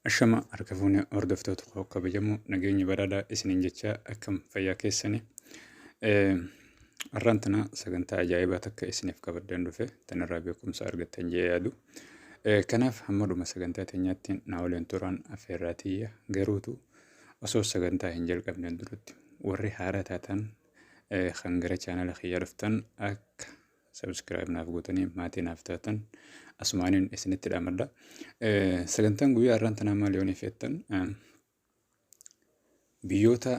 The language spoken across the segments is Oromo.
Ashama harka fuune hordoftoota koo kabajamoo nageenyi badhaadhaa isiniin jechaa akkam fayyaa keessanii. Har'aan tana sagantaa ajaa'ibaa takka isiniif qabaddan dhufe tanarraa beekumsa argattan jee yaadu. Kanaaf hamma dhuma sagantaa teenyaatti naa waliin turaan affeerraa tiyya garuutu osoo sagantaa hin jalqabne duratti warri haaraa taatan kan gara chaanala kiyya dhuftan akka Subscribe naaf gootanii maatii naaf taatan asumaaniin isinitti dhaamadha. Sagantaan guyyaa har'aan tanaa maal yoon ifeettan biyyoota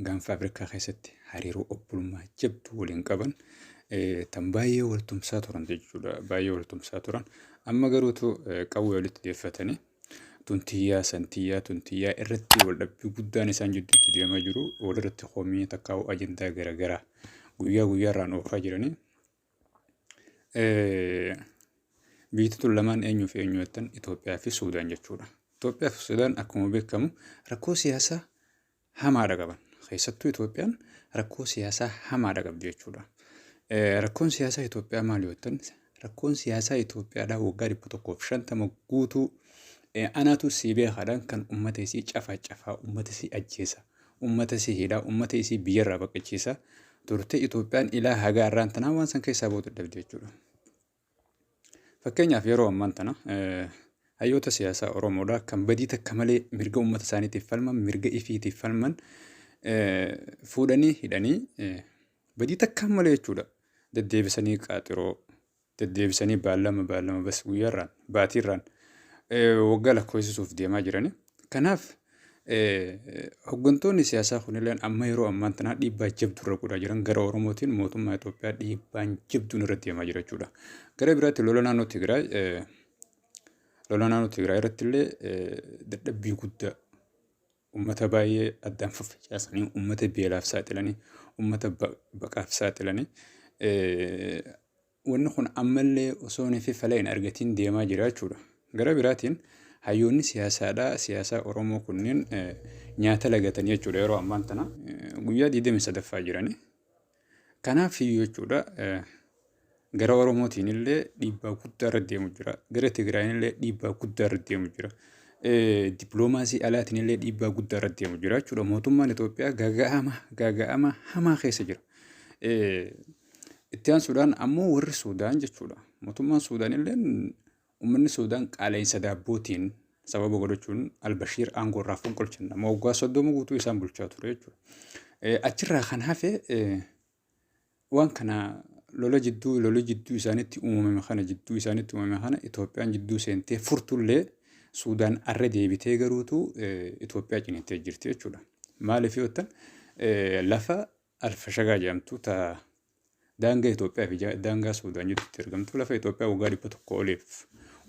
gaanfa Afrikaa keessatti hariiroo obbolummaa jabduu waliin qaban tan baay'ee waltumsaa turan jechuudha. Baay'ee waltumsaa turan. Amma garuutu qawwee walitti deeffatanii tun tiyyaa san tiyyaa tun tiyyaa irratti wal dhabbii guddaan isaan jidduutti deemaa jiru walirratti komii takkaa'u ajandaa garaagaraa guyyaa guyyaarraan oofaa jiranii biyyi tun lamaan eenyuu fi eenyu jettan Itoophiyaa fi Suudaan jechuudha. Itoophiyaa fi Suudaan akkuma beekamu rakkoo siyaasaa hamaadha qaban. Keessattuu Itoophiyaan rakkoo siyaasaa hamaadha qabdi jechuudha. Rakkoon siyaasaa Itoophiyaa maal yoo ta'an rakkoon siyaasaa Itoophiyaadhaa waggaa dhibba tokkoof shantama guutuu anaatu sii beekaadhaan kan uummata isii cafaa cafaa uummata isii ajjeesa uummata isii hidhaa uummata isii biyyarraa baqachiisa turte Itoophiyaan ilaa hagaa irraan tanaa waan san keessaa bootu dhabde jechuudha. Fakkeenyaaf yeroo ammaan tana hayyoota siyaasaa Oromoodhaa kan badii takka malee mirga uummata isaaniitiif falman, mirga ifiitiif falman fuudhanii hidhanii badii takka malee jechuudha. Deddeebisanii qaaxiroo, deddeebisanii baallama baallama bas guyyaarraan, baatiirraan waggaa lakkoofsisuuf deemaa jiranii. Kanaaf hoggantoonni siyaasaa kunilleen amma yeroo ammaan tanaa dhiibbaa jabduu irra godhaa jiran gara Oromootiin mootummaa Itoophiyaa dhiibbaan jabduun irra deemaa jira jechuudha. Gara biraatti lola naannoo Tigraay lola naannoo Tigraay irratti illee dadhabbii guddaa uummata baay'ee addaan faffacaasanii uummata beelaaf saaxilanii uummata baqaaf saaxilanii wanni kun ammallee osoo nefi fala hin argatiin deemaa jira jechuudha. Gara biraatiin hayyoonni siyaasaadhaa siyaasaa Oromoo kunniin nyaata lagatanii jechuudha yeroo ammaan tana guyyaa 23ffaa jiranii. Kanaaf iyyuu jechuudha gara Oromootiin illee dhiibbaa guddaa irra deemu jira. Gara Tigraayin illee dhiibbaa guddaa irra deemu jira. Dippiloomaasii alaatiin illee dhiibbaa guddaa irra deemu jira jechuudha. Mootummaan Itoophiyaa gaaga'ama gaaga'ama hamaa keessa jira. Itti aansuudhaan ammoo warri Suudaan jechuudha. Mootummaan Suudaan illee uummanni Suudaan qaala'insa daabbootiin sababa godhachuun Albashiir aangoo irraa fonqolchan nama waggaa soddoma guutuu isaan bulchaa ture jechuudha. Achirraa kan hafe waan kana lola jidduu lola jidduu isaanitti uumame kana jidduu isaanitti uumame kana Itoophiyaan jidduu seentee furtullee Suudaan arra deebitee garuutu Itoophiyaa ciniintee jirti jechuudha. Maaliif yoo ta'an lafa Alfashagaa jedhamtu ta daangaa Itoophiyaa fi ja- daangaa Suudaan jidduutti argamtu lafa Itoophiyaa waggaa dhibba tokko oliif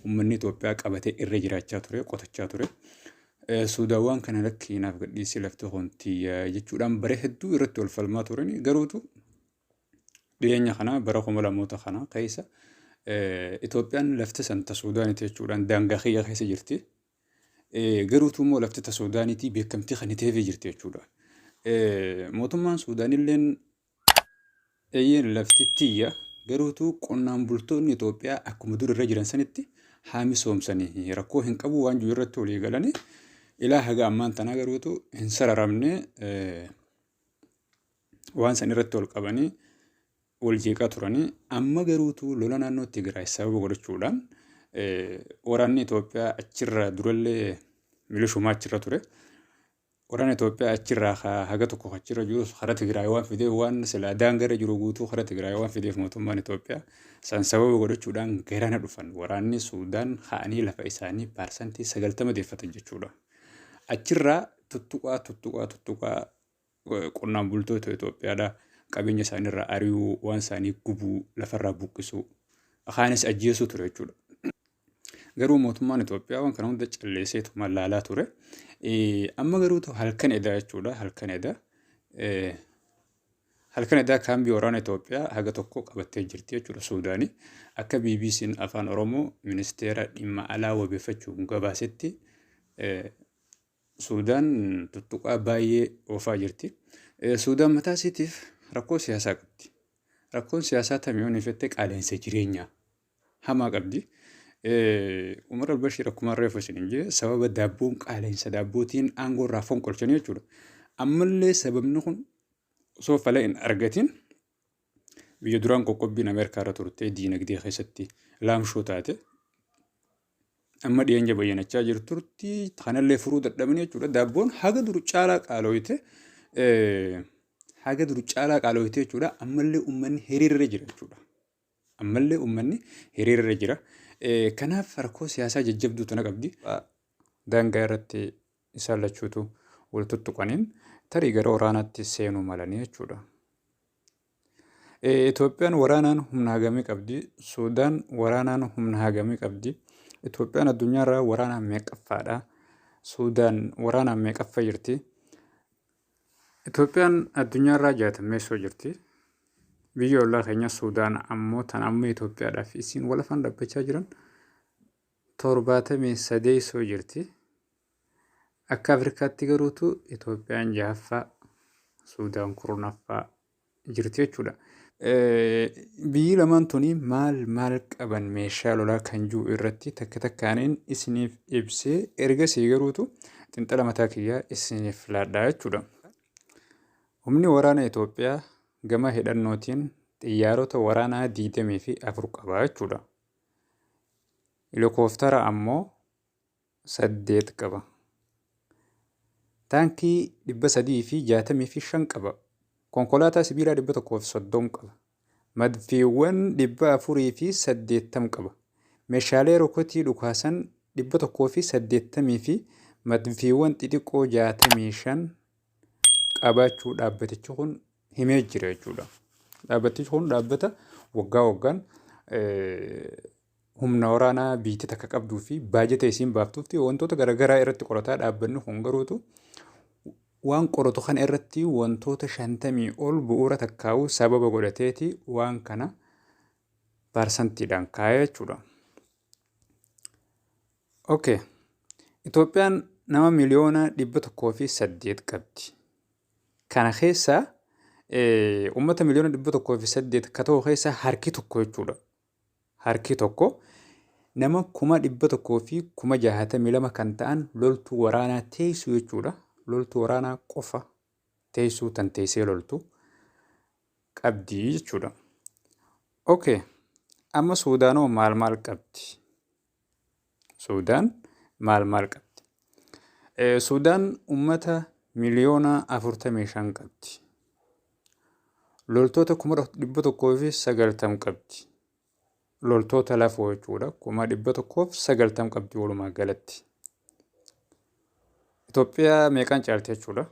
uummanni Itoophiyaa qabatee irra jiraachaa ture, qotachaa ture. Eh, Suudaan waan kana lakki naaf gadhiisii lafti hontiyya jechuudhaan bara hedduu irratti wal falmaa turan garuutu dhiyeenya kana bara kuma lamoota kana keessa eh, Itoophiyaan lafti san ta Suudaaniti jechuudhaan daangaa kiyya keessa jirti Garuutu immoo laftota Suudaaniitii beekamtii kan hiteefii jirti jechuudha. Mootummaan Suudaanilleen eeyyeen lafti tiyya garuutu qonnaan bultoonni Itoophiyaa akkuma dur irra jiran sanitti haa misoomsanii rakkoo hin qabu waan jiru irratti walii galanii ilaa haga ammaan tanaa garuutu hin sararamne waan san irratti ol qabanii wal jeeqaa turani. Amma garuutu lola naannoo Tigraay sababa godhachuudhaan waraanni Itoophiyaa achirraa durallee milishumaa achirra ture. Waraanni Itoophiyaa achirraa haga tokko achirra jirus karaa Tigraay waan fideef waan silaa daangarra jiru guutuu karaa Tigraay waan fideef mootummaan Itoophiyaa san sababa godhachuudhaan garana dhufan waraanni Suudaan ka'anii lafa isaanii paarsantii sagaltama deeffatan jechuudha. Achirraa tuttuqaa tuttuqaa tuttuqaa qonnaan bultoota Itoophiyaadhaa qabeenya isaaniirraa ari'uu, waan isaanii gubuu, lafarraa buqqisuu, kaanis ajjeesuu ture jechuudha. Garuu mootummaan Itoophiyaa waan kana hunda calleesseetu mallaalaa ture. Amma garuu halkan edaa jechuudha halkan edaa. Halkan edaa kaambii waraana Itoophiyaa haga tokko qabattee jirti jechuudha Suudaanii. Akka BBC'n Afaan Oromoo ministeera dhimma alaa wabeeffachuun gabaasetti Suudaan tuttuqaa baay'ee oofaa jirti. Suudaan mataa isiitiif rakkoo siyaasaa qabdi. Rakkoon siyaasaa tami yoo neefette qaala'insa jireenyaa hamaa qabdi. Umar al-Bashir akkuma reefu isin hin jee sababa daabboon qaala'insa daabbootiin aangoo irraa fonqolchanii jechuudha. Ammallee sababni kun osoo fala hin argatin Biyya duraan qoqqobbiin Ameerikaa irra turte diinagdee keessatti laamshoo taate amma dhiyeenya bayyanachaa jirturti kanallee furuu dadhabanii jechuudha. Daabboon haga dur caalaa qaalooyte haga dur caalaa qaalooyte jechuudha. Ammallee uummanni hiriirra jira jechuudha. Ammallee uummanni hiriirra jira. Kanaaf rakkoo siyaasaa jajjabduu tana qabdi. Daangaa irratti isaan lachuutu wal tuttuqaniin tarii gara waraanaatti seenuu malanii jechuudha. Itoophiyaan waraanaan humna hagamii qabdi? Suudaan waraanaan humna hagamii qabdi? Itoophiyaan addunyaarraa waraanaan meeqaffaadha? Suudaan waraanaan meeqaffa jirti? Itoophiyaan addunyaarraa jaatammeessoo jirti. Biyya ollaa keenya Suudaan ammoo tan amma Itoophiyaadhaaf isiin walafaan dhabbachaa jiran 73 jirti. Akka Afrikaatti garuutu Itoophiyaan jahaffaa, Suudaan kurnaffaa jirti jechuudha. Biyyi lamaan tuni maal maal qaban meeshaa lolaa kan jiru irratti takka takkaaniin isiniif ibsee ergasii garuutu xinxala mataa kiyyaa isiniif laadhaa jechuudha. Humni waraana Itoophiyaa gama hidhannootiin xiyyaarota waraanaa 24 qaba jechuudha. Helokooftara ammoo saddeet qaba. Taankii dhibba sadii fi jaatamii fi shan qaba. Konkolaataa sibiilaa dhibba tokkoo fi soddom qaba. Madfiiwwan dhibba afurii fi saddeettam qaba. Meeshaalee rokotii dhukaasan dhibba tokkoo fi saddeettamii fi madfiiwwan xixiqqoo jaatamii shan qabaachuu dhaabbatichi kun himee jira jechuudha. Dhaabbatichi kun dhaabbata waggaa waggaan humna waraanaa biyya takka qabduu fi baajata isiin baaftuutti wantoota garaagaraa irratti qorataa dhaabbanni kun garuutu waan qoratu kana irratti wantoota shantamii ol bu'uura takkaa'uu sababa godhateeti waan kana parsantiidhaan kaa'ee jechuudha. Okay. Itoophiyaan nama miliyoona dhibba tokkoo fi saddeet qabdi. Kana keessa uummata miliyoona dhibba tokkoo fi saddeet ka ta'u keessa harki tokko jechuudha. Harki tokko nama kuma dhibba tokkoo fi kuma jaahatamii lama kan ta'an loltuu waraanaa teessuu jechuudha. Loltuu waraanaa qofa teessuu tan teessee loltu qabdi jechuudha. Okay. Amma Suudaanoo maal maal qabdi? Suudaan maal maal qabdi? Suudaan uummata miliyoona 45 qabdi. Loltoota 190 qabdi. Loltoota lafoo jechuudha. 190 qabdi walumaa galatti. Itoophiyaa meeqaan caalti jechuudha?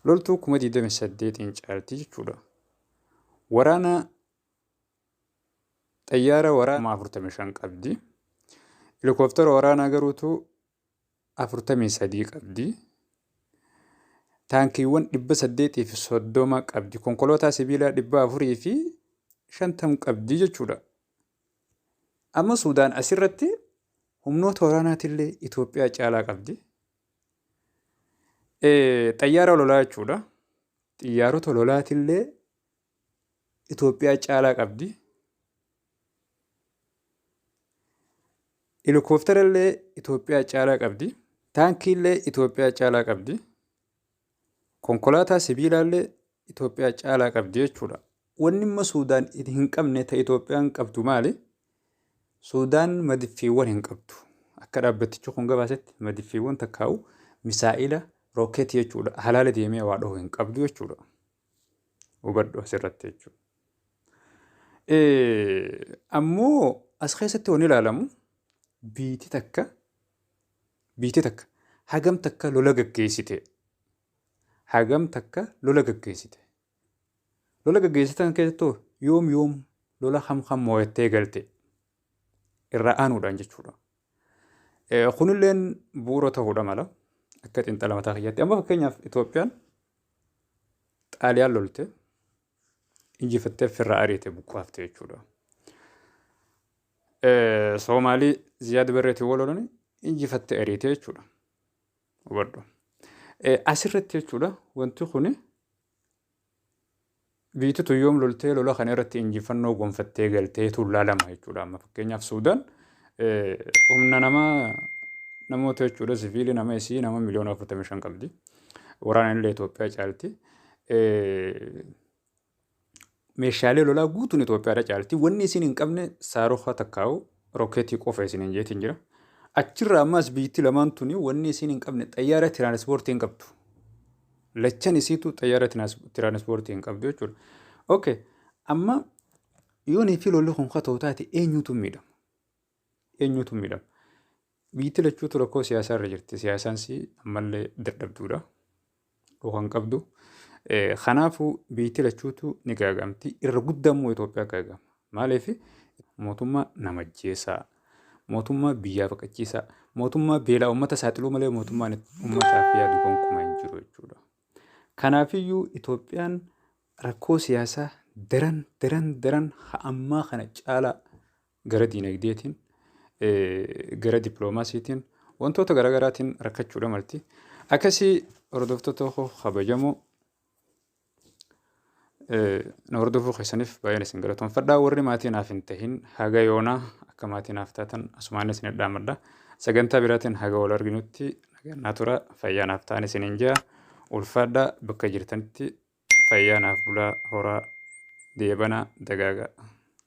Loltuu 28 caalti jechuudha. Waraana Xayyaara waraanaa 45 qabdi. Helikooftara waraanaa garuutu 43 qabdi. Taankiiwwan 830 qabdi. Konkolaataa sibiilaa 450 qabdi jechuudha. Amma Suudaan asirratti humnoota waraanaatillee Itoophiyaa caalaa qabdi. Xayyaara lolaa jechuudha. Xiyyaarota lolaatillee Itoophiyaa caalaa qabdi. Helikooftara illee Itoophiyaa caalaa qabdi. Taankii illee Itoophiyaa caalaa qabdi. Konkolaataa sibiilaa illee Itoophiyaa caalaa qabdi jechuudha. Wanni immoo Suudaan hin qabne ta Itoophiyaan qabdu maali? Suudaan madiffiiwwan hin qabdu. Akka dhaabbatichi kun gabaasetti madiffiiwwan takkaa'u misaa'ila rookeetii jechuudha. Halaala deemee waa dhahu hin qabdu jechuudha. Hubadhu asirratti jechuudha. Ammoo as keessatti wanni ilaalamu biitii takka biitii takka hagam takka lola gaggeessite hagam takka lola gaggeessite lola gaggeessitan keessattuu yoom yoom lola kam kam moo'attee galte irraa aanuudhaan jechuudha. Kunilleen bu'uura ta'uudha mala akka xiinxala mataa kiyyaatti. Amma fakkeenyaaf Itoophiyaan Xaaliyaan lolte injifattee ofirraa ariite buqqaafte jechuudha. Soomaalii Ziyaad Barreetiin wal lolanii injifattee ariite jechuudha. Hubadhu. Asirratti jechuudha wanti kun Biyyti tun yoom loltee lola kana irratti injifannoo gonfattee galteetu laalama jechuudha. Amma fakkeenyaaf Suudaan humna nama namoota jechuudha siviilii nama isii nama miliyoona 45 qabdi. Waraanaan illee Itoophiyaa caalti. Meeshaalee lolaa guutuun Itoophiyaadha caalti. Wanni isin hin qabne saarukaa takkaa'u rookeetii qofa isin hin jeetiin jira. Achirraa ammaas biyyitti lamaan tuni wanni isin hin qabne xayyaara tiraanispoortii hin qabdu. Lachan isiitu xayyaara tiraanispoortii hin qabdu jechuudha. Ok, amma yoonii fi lolli kun katoo taate eenyuutu miidhama? Eenyuutu miidhama? Biyyatti lachuutu rakkoo siyaasaa irra jirti. Siyaasaan si ammallee dadhabduudha. Dhuka hin qabdu. Kanaafuu biyyatti lachuutu ni gaagamti. Irra guddaa immoo Itoophiyaa gaagama. Maaliif mootummaa namajjeessaa, mootummaa biyyaa baqachiisaa, mootummaa beelaa uummata saaxiluu malee mootummaan uummataaf yaadu gonkumaa hin jiru jechuudha. Kanaafiyyuu Itoophiyaan rakkoo siyaasaa daran daran daran ammaa kana caalaa gara diinagdeetiin gara dippiloomaasiitiin wantoota garaagaraatiin rakkachuudha malti. Akkasii hordoftoota koo kabajamoo Na hordofuu keessaniif baay'een isin galatoomfadha. Warri maatii naaf hin tahin haga yoonaa akka maatii naaf taatan asumaan isin dhaamadha. Sagantaa biraatiin haga wal arginutti nagaan tura fayyaa naaf ta'an isin hin jaa. Ulfaadha bakka jirtanitti fayyaa naaf bulaa horaa deebana dagaagaa.